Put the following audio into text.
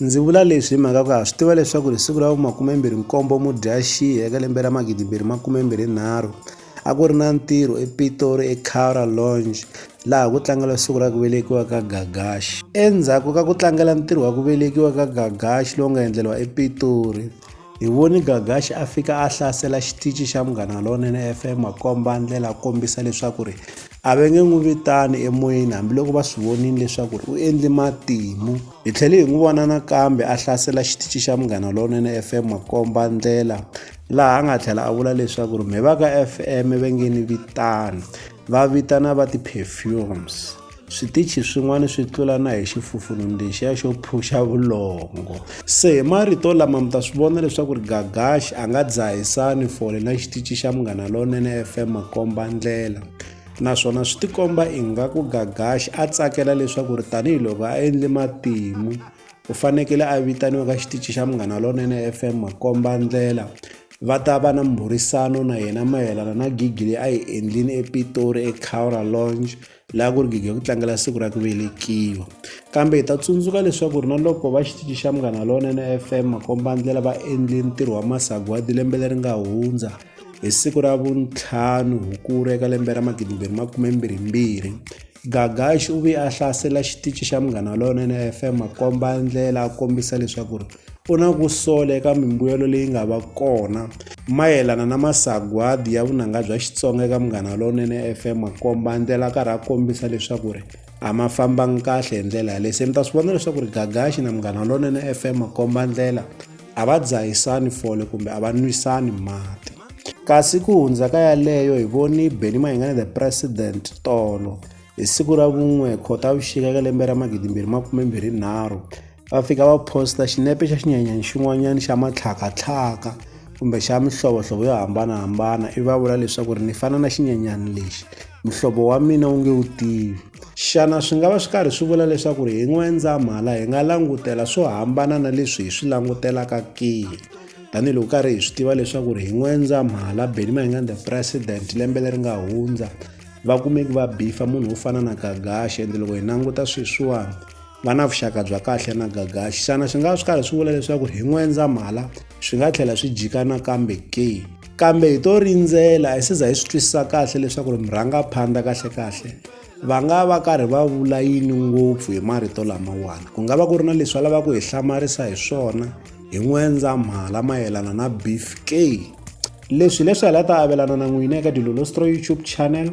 Ndzi vula leswi hi mhaka ku ha swi tiva leswaku hi siku ra vu makumembirhi nkombo Mudyaxihi eka lembe ra magidimbirhi makumembirhi nharhu a ku ri na ntirho ePitori eCara Lounge laha ku tlangela siku ra ku velekiwa ka Gagashi endzhaku ka ku tlangela ntirho wa ku velekiwa ka Gagashi lowu nga endleriwa ePitori hi voni Gagashi a fika a hlasela xitichi xa Munghana Lonene FM a komba ndlela a kombisa leswaku ri A va nge n'wi vitani emoyeni hambiloko va swi vonile leswaku u endle matimu. Hi tlhele hi n'wi vona nakambe a hlasela xitichi xa Munghana Lowunene FM makomba ndlela laha a nga tlhela a vula leswaku ri mheva ka FM va nge ni vitani va vitana va ti-perfumes. Switichi swin'wana swi tlula na hi xifufununu lexiya xo phuxa vulongo. Se hi marito lama mi ta swi vona leswaku ri Gagashi a nga dzahisani fole na xitici xa Munghana Lonene FM makomba ndlela naswona swi tikomba ingaku Gagashi a tsakela leswaku ri tanihiloko a endle matimu u fanekele a vitaniwa ka xitici xa Munghana Lonene FM makomba ndlela va ta va na mbhurisano na yena mayelana na gigi leyi a yi endlile ePitori eCowra Lounge laha ku ri gigi ya ku tlangela siku ra ku velekiwa kambe hi ta tsundzuka leswaku ri na loko va xitichi xa munghana lonene fm makombandlela va endle ntirho wa masagwadi lembe leri nga hundza hi siku ra vuntlhanu hukulu eka lembe ra magidimbirhi makumembirhimbirhi gagaxi u ve a hlasela xitichi xa munghana lonene fm makombandlela a kombisa leswaku ri u na ku sola eka mimbuyelo leyi nga va kona mayelana na masagwadi ya vunanga bya xitsonga eka munghana lowunene fm makomba ndlela a karhi a kombisa leswaku ri a ma fambangi kahle hi ndlela yaleyi se mi ta swi vona leswaku ri gagaxi na munghana lowunene fm makomba ndlela a va dzahisani fole kumbe a va nwisani mati kasi ku hundza ka yaleyo hi voni beni mahingane the president tolo hi siku ra vun'we khotavuxika ka lembe ra magidimbirhi makume mbirhi nharhu va fika va posta xinepe xa xinyanyani xin'wanyana xa matlhakatlhaka kumbe xa mihlovohlovo yo hambanahambana i va vula leswaku ri ni fana na xinyanyani lexi muhlovo wa mina wu nge wu tivi xana swi nga va swi karhi swi vula leswaku ri hi n'wendzamhala hi nga langutela swo hambana na leswi hi swi langutelaka ke tanihiloko karhi hi swi tiva leswaku ri hi n'wendzamhala beni ma hi nga the president lembe leri nga hundza vakumeki va bifa munhu wo fana na gagaxe ende loko hi languta sweswiwani va na vuxaka bya kahle na gagaxi xana swi nga swi karhi swi vula leswaku hi n'wendzamhala swi nga tlhela swi jika nakambe ke kambe hi to rindzela hi siza hi swi twisisa kahle leswaku ri murhangaphandla kahlekahle va nga va karhi va vula yini ngopfu hi marito lamawani ku nga va ku ri na leswi va lavaka ku hi hlamarisa hi swona hi n'wendzamhala mayelana na beef ke leswi leswi hi la ta avelana na n'wina eka dilolostro youtube channel